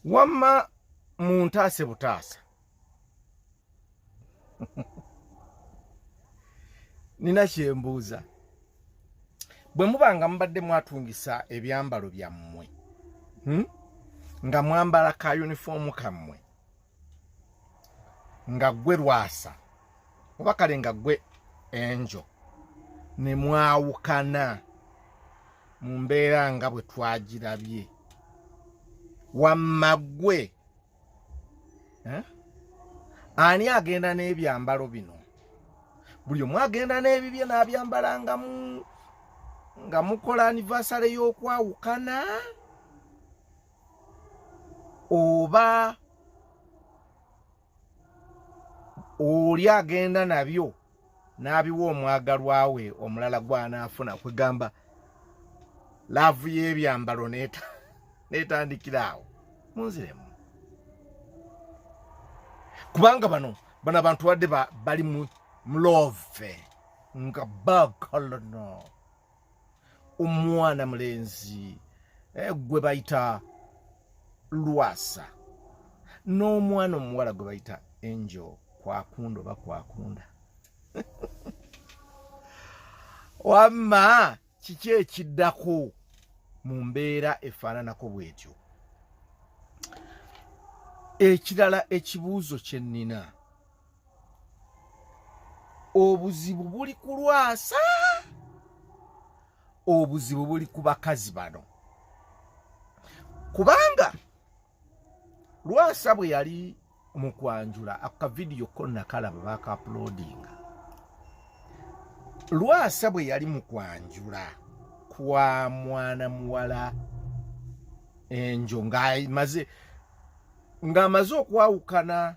wamma muntaase butaasa nina kyembuuza bwe muba nga mubadde mwatungisa ebyambalo byammwe hmm? nga mwambala ka yunifoomu kammwe nga gwe lwasa oba kale nga gwe enjo ne mwawukana mu mbeera nga bwe twagirabye wamma gwe eh? ani agenda n'ebyambalo bino buli omu agenda n'ebibye n'abyambala nga mu nga mukola anivasale y'okwawukana oba oli agenda nabyo n'abiwa omwagalwa we omulala gw'anaafuna kwegamba laavu y'ebyambalo n'etandikira awo munziremu kubanga bano bano abantu badde bali mu love nga bakolono omwana mulenzi eh, gwe bayita lwasa n'omwana omuwala gwe bayita angel kwakunda oba kwakunda wamma kiki ekiddako mu mbeera efaananako bwetyo ekirala ekibuuzo kye nnina obuzibu buli ku lwasa obuzibu buli ku bakazi bano kubanga lwasa bwe yali mu kwanjula akavidiyo ko nakalaba bakaapulodinga lwasa bwe yali mu kwanjula kwa mwana muwala enjo ng'amaze okwawukana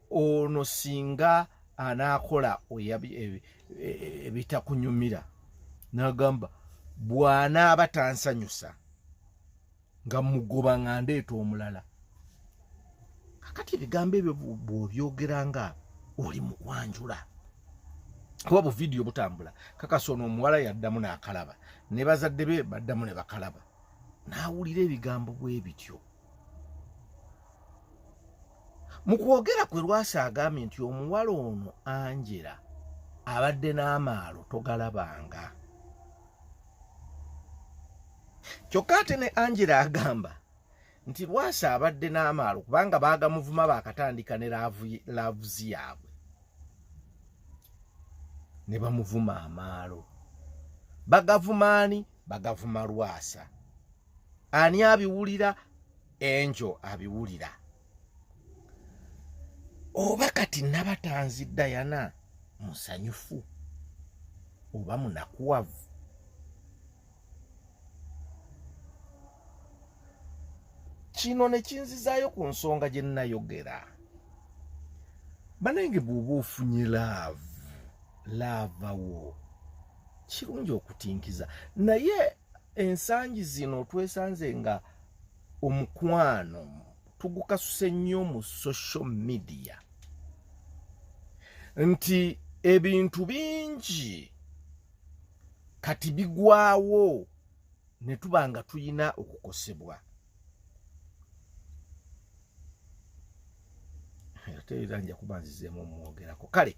ono singa anaakola e, e, ebitakunyumira nagamba bwanaaba tansanyusa nga mugoba nga ndeeta omulala kakati ebigambo ebyo bwobyogera nga oli mukwanjula kuba buvidiyo butambula kakasa ono omuwala yaddamu nakalaba ne bazadde be baddamu ne bakalaba naawulira ebigambo bwe bityo mu kwogera kwe lwasa agambye nti omuwala ono angela abadde n'amaalo togalabanga kyokka ate ne angela agamba nti lwasa abadde n'amaalo kubanga baagamuvuma baakatandika ne laavuzi yaabwe ne bamuvuma amaalo bagavumaani bagavuma lwasa ani abiwulira enjo abiwulira oba kati nabatanzi dayana musanyufu oba munakuwavu kino nekinzizaayo ku nsonga gye nnayogera banange bw'oba ofunye laavu laavawo kirungi okutinkiza naye ensangi zino twesanze nga omukwano tugukasuse nnyo mu social media nti ebintu bingi kati bigwawo ne tuba nga tulina okukosebwa ate era nja kuba nzizeemu omwogerako kale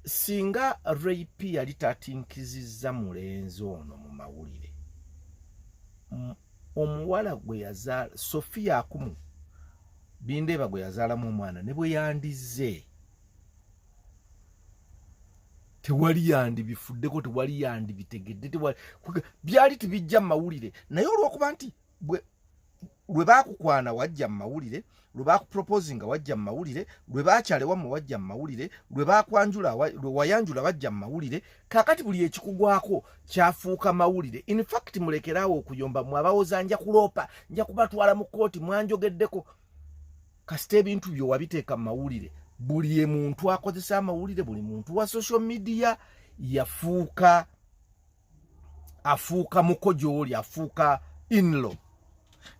singa rap yali tatinkizizza mulenzi ono mu mawulire omuwala gwe yazaala sofiya akumu bindeeba gwe yazaalamu omwana ne bwe yandizze tewali yandibifuddeko tewali yandibitegedde byali tibijja mu mawulire naye olwokuba nti lwe baakukwana wajja mu mawulire lwe baakupropose nga wajja mu mawulire lwe baakyalewa mu wajja mu mawulire lwe baakwanjula lwe wayanjula bajja mu mawulire kakati buli ekikugwako kyafuuka mawulire in fact mulekeraawo okuyomba mwe abawoza nja kuloopa nja kubatwala mu kkooti mwanjogeddeko kasita ebintu byo wabiteeka mu mawulire buli muntu akozesa amawulire buli muntu wa social media yafuuka afuuka muko gyoli afuuka inlo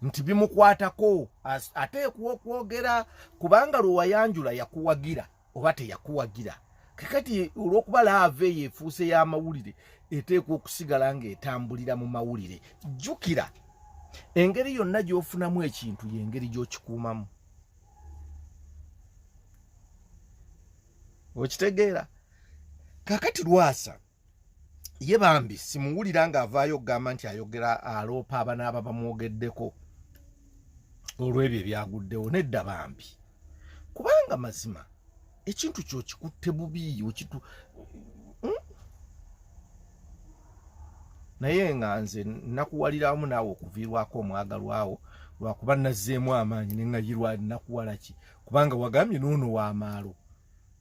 nti bimukwatako ateekwa okwogera kubanga lwewayanjula yakuwagira oba teyakuwagira kakati olwokuba laava eyo efuuse y'amawulire eteekwa okusigala ng'etambulira mu mawulire jjukira engeri yonna gy'ofunamu ekintu y'engeri gy'okikuumamu okitegeera kakati lwasa ye bambi simuwulira nga avaayo okugamba nti ayogera aloopa abanaaba bamwogeddeko olw'ebyo ebyaguddewo nedda bambi kubanga mazima ekintu kyo kikutte bubi okitu hmm? naye nga nze nakuwaliramu naawe okuviirwako omwagalwawo lwakuba nazzeemu amaanyi neŋayirwa nakuwalaki kubanga wagambye noono wamaalo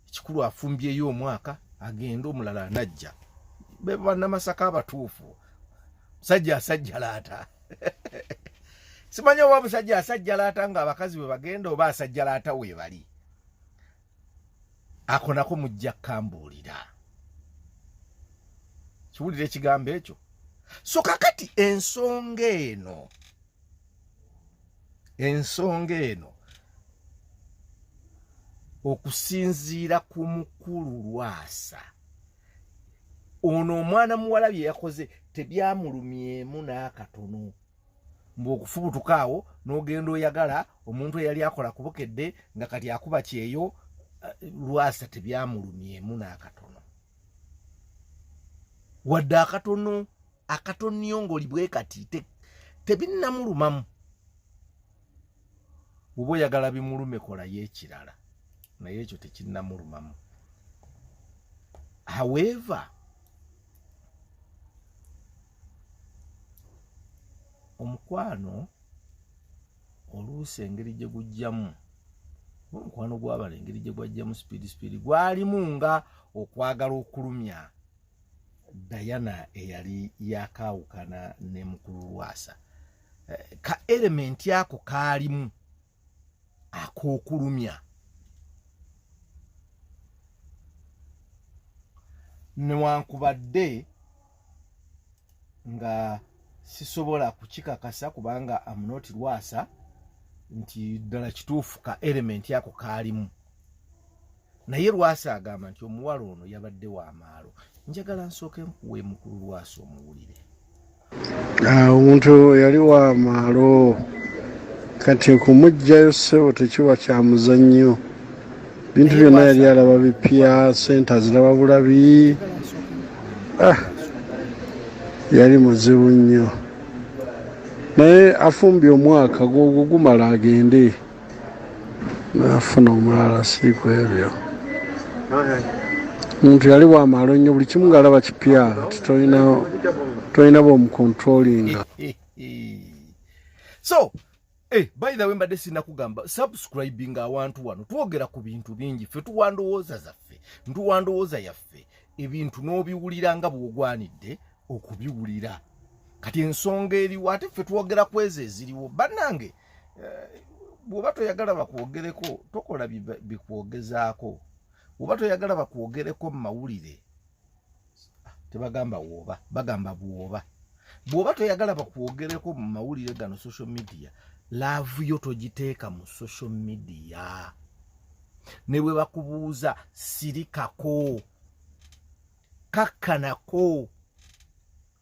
ekikulu afumbyeyo omwaka agenda omulala anajja bebanamasaka abatuufu musajja asajja laata simanyi oba musajja asajja laata nga abakazi bwe bagenda oba asajja laata webali akonako mujja kambuulira kiwulira ekigambo ekyo so kakati ensonga eno ensonga eno okusinziira ku mukulu lwasa ono omwana muwala bye yakoze tebyamulumyemu n'akatono mbu okufubutuka awo n'ogenda oyagala omuntu eyali akola ku bukedde nga kati akuba kyeyo eh, lwasa tebyamulumyemu n'akatono wadde akatono akatoniyongoli bwe kati tebinnamulumamu bwoba oyagala bimulume kolayo ekirala naye ekyo tekinnamulumamu however omukwano oluusi engeri gye gujjamu omukwano gwabala engeri gye gwajjamu sipiidi sipiidi gwalimu nga okwagala okulumya Diana eyali yakaawukana ne mukulu Lwasa eh, ka elementi ako kaalimu ak'okulumya newankubadde nga sisobola kukikakasa kubanga amunoti Lwasa nti ddala kituufu ka elementi ako kaalimu naye lwasa agamba nti omuwala ono yabadde wa maalo njagala nsooke nkuwa emukulu lwasa omuwulire ah, omuntu yali wa maalo kati okumugjayo ssebo tekiba kya muzannyo bintu byonna yali alaba bipya sente aziraba bulabi ah, yali muzibu nnyo naye afumbye omwaka gwogwo gumala agende nafuna omulala si ku ebyo omuntu yali wamaalo nnyo buli kimu ngaalaba kipya titolina bomukontrolinga so eh, by the way mbadde sinakugamba subscribing awantu wano twogera ku bintu bingi ffe tuwa ndowooza zaffe ntuwa ndowooza yaffe ebintu n'obiwulira nga bwogwanidde okubiwulira kati ensonga eriwo ate ffe twogera kwezo eziriwo bannange eh, bwoba toyagala bakwogereko tokola bikwogezaako bwoba toyagala bakwogereko mu mawulire tebagamba woba bagamba bwoba bwoba toyagala bakwogereko mu mawulire gano social media laavu yo togiteeka mu social media ne bwe bakubuuza sirikako kakkanako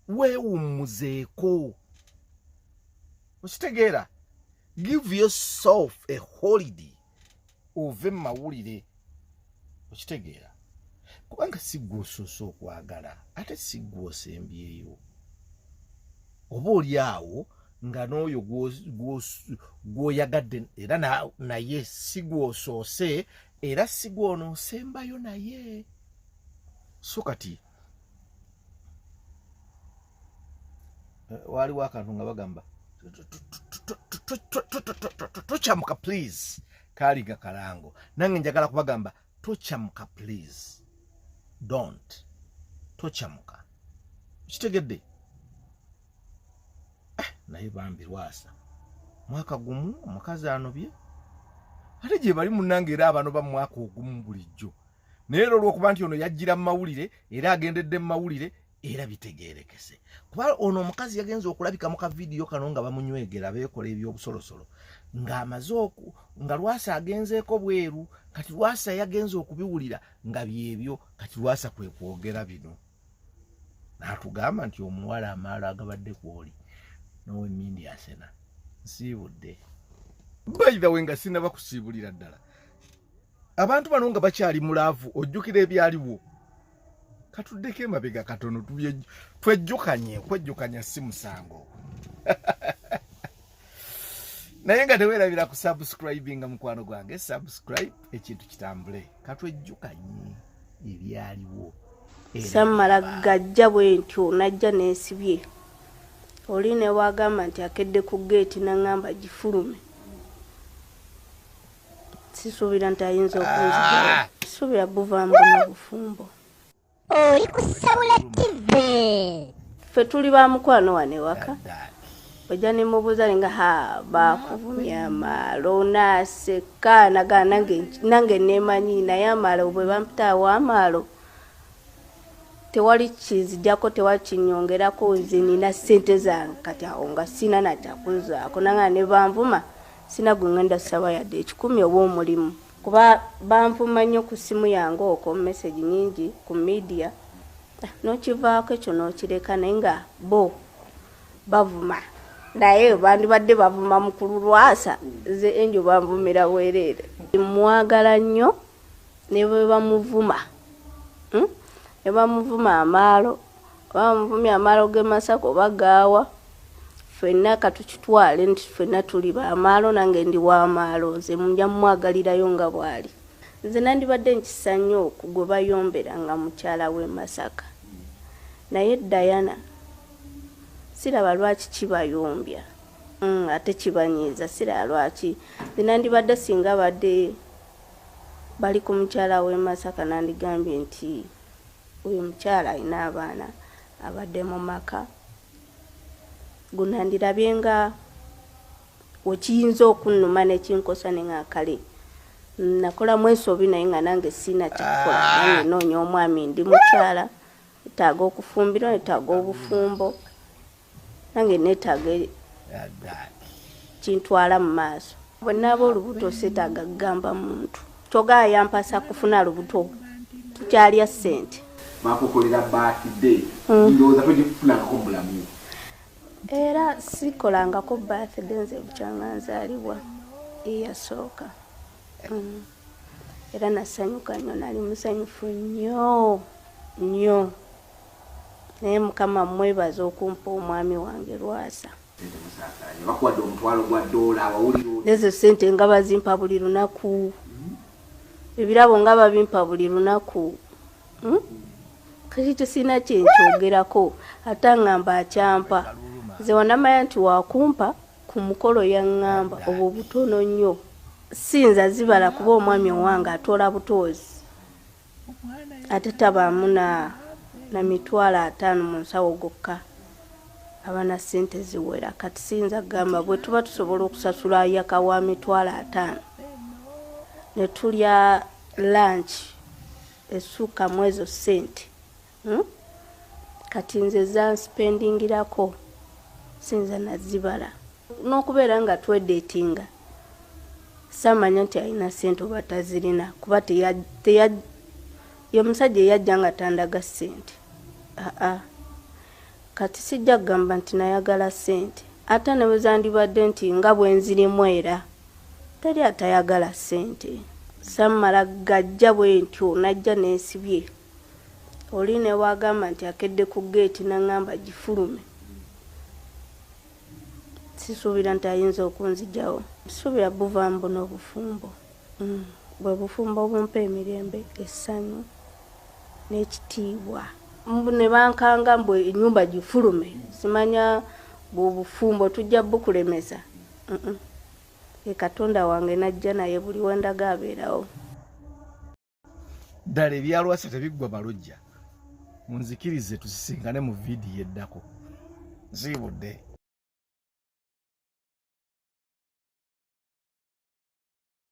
weewummuzeeko okitegeera give yourself a holiday ove mu mawulire okitegeera kubanga siggwa osoose okwagala ate siggwa osembyeyo oba oli awo nga n'oyo gw'oyagadde era naye sigwa osoose era sigwa onoosembayo naye so kati waliwo akantu nga bagamba tokyamuka please kaali nga kalango nange njagala kubagamba tokyamuka please don't tokyamuka kitegedde eh, naye bambi lwasa mwaka gumu omukazi anobye ate gyebali munange era abano bamwaka ogumu bulijjo naye era olwokuba nti ono yajjira mu mawulire era agendedde mu mawulire era bitegerekese kuba ono omukazi yagenze okulabika mu kavidiyo kano nga bamunywegera beekola ebyobusolosolo ng'amaze oku nga lwasa agenzeeko bweru kati lwasa yagenze okubiwulira nga byebyo kati lwasa kwe kwogera bino natugamba nti omuwala amaalo agabadde kwoli nowe mindi asena nsiibudde bayidawe nga sinaba kusiibulira ddala abantu bano nga bakyali mulaavu ojjukira ebyaliwo katuddeko emabega katono twejjukanye okwejjukanya si musango naye nga tewerabira ku subscribinga mukwano gwange subscribe ekintu kitambule katwejjukanye ebyaliwo sammala gajja bwe ntyo najja neesibye oli ne waagamba nti akedde ku geeti naŋŋamba gifulume sisuubira nti ayinza okunzaa sisuubira buvaamu na bufumbo oli kusabula tive ffe tuli ba mukwano wano ewaka ojja nemubuuza ninga ha bakuvumya amaalo onaaseka nagaa nange nemanyi naye amaalo bwe bampitaawo amaalo tewali kinzijako tewali kinyongerako nze nina sente zange kati awo nga sina nakyakunzaako nanga nebanvuma sina gwe ngenda saba yadde ekikumi oba omulimu kuba banvuma nnyo ku ssimu yange okwo message nyingi ku media eh, nokivaako ekyo nokireka naye nga bo bavuma naye bandibadde bavuma mukulu lwasa nze enjo banvumira bwereere mwagala nnyo ne bwe bamuvuma hmm? ne bamuvuma amaalo oba bamuvumya amaalo ge masaka oba gaawa fenna katukitwale nti fenna tuli bamaalo nange ndi wamaalo nze muja mumwagalirayo nga bwali nze nandibadde nkisa nnyo ku gwe bayombera nga mukyala w'e masaka naye dayana siraba lwaki kibayombya hmm, ate kibanyiiza siraba lwaki nze nandibadde singa badde bali ku mukyala w'e Masaka nandigambye nti oyo mukyala alina abaana abadde mu maka gunandirabye nga wekiyinza okunnuma nekinkosa ne nga kale nakola mwesobi naye nga nange siina kyakukola ah. nange noonya omwami ndi mukyala etaaga okufumbirwa etaaga obufumbo nange netaaga kintwala mu maaso bwe naaba olubuto setaaga kugamba muntu kyoga yampasa kufuna lubuto tukyalya ssente bakukolera birthday mm. ndowooza togifunangako mubulamu era sikolangako birthday nze bukyanga nzalibwa eyasooka mm. era nasanyuka nnyo nali musanyufu nnyo nnyo naye mukama mwebaza okumpa omwami wange lwasa ezo sente nga bazimpa buli lunaku ebirabo nga babimpa buli lunaku hmm? kati tesirina kyenkyogerako ate angamba akyampa nze wanamanya nti wakumpa ku mukolo yaŋŋamba obwo butono nnyo siyinza zibala kuba omwami owange atoola butoozi ate tabaamu na na mitwalo ataano mu nsawo gokka abana sente ziwera kati siyinza kugamba bwe tuba tusobola okusasula yaka wa mitwalo ataano ne tulya lanki essuuka mu ezo sente hmm? kati nze zanspendingirako sinza nazibala n'okubeera nga twedetinga samanya nti alina sente oba tazirina kuba yomusajja eyajja nga tandaga sente aa kati sijja kugamba nti nayagala sente ate nebwezandibadde nti nga bwenzirimu era teri atayagala sente samala gajja bwentyo najja nensibye oli ne bwagamba nti akedde ku geeti naŋŋamba gifulume sisuubira nti ayinza okunzijawo sisuubira buvaamu buno obufumbo mm. bwe bufumbo obumpa emirembe essanyu n'ekitiibwa ne bankanga mbu enyumba gifulume simanya bwobufumbo tujja bukulemeza e katonda wange najja naye buli wendaga abeerawo ddala ebyalwasa tebiggwa balojja munzikirize tusisinkane mu vidiyo eddako ziibudde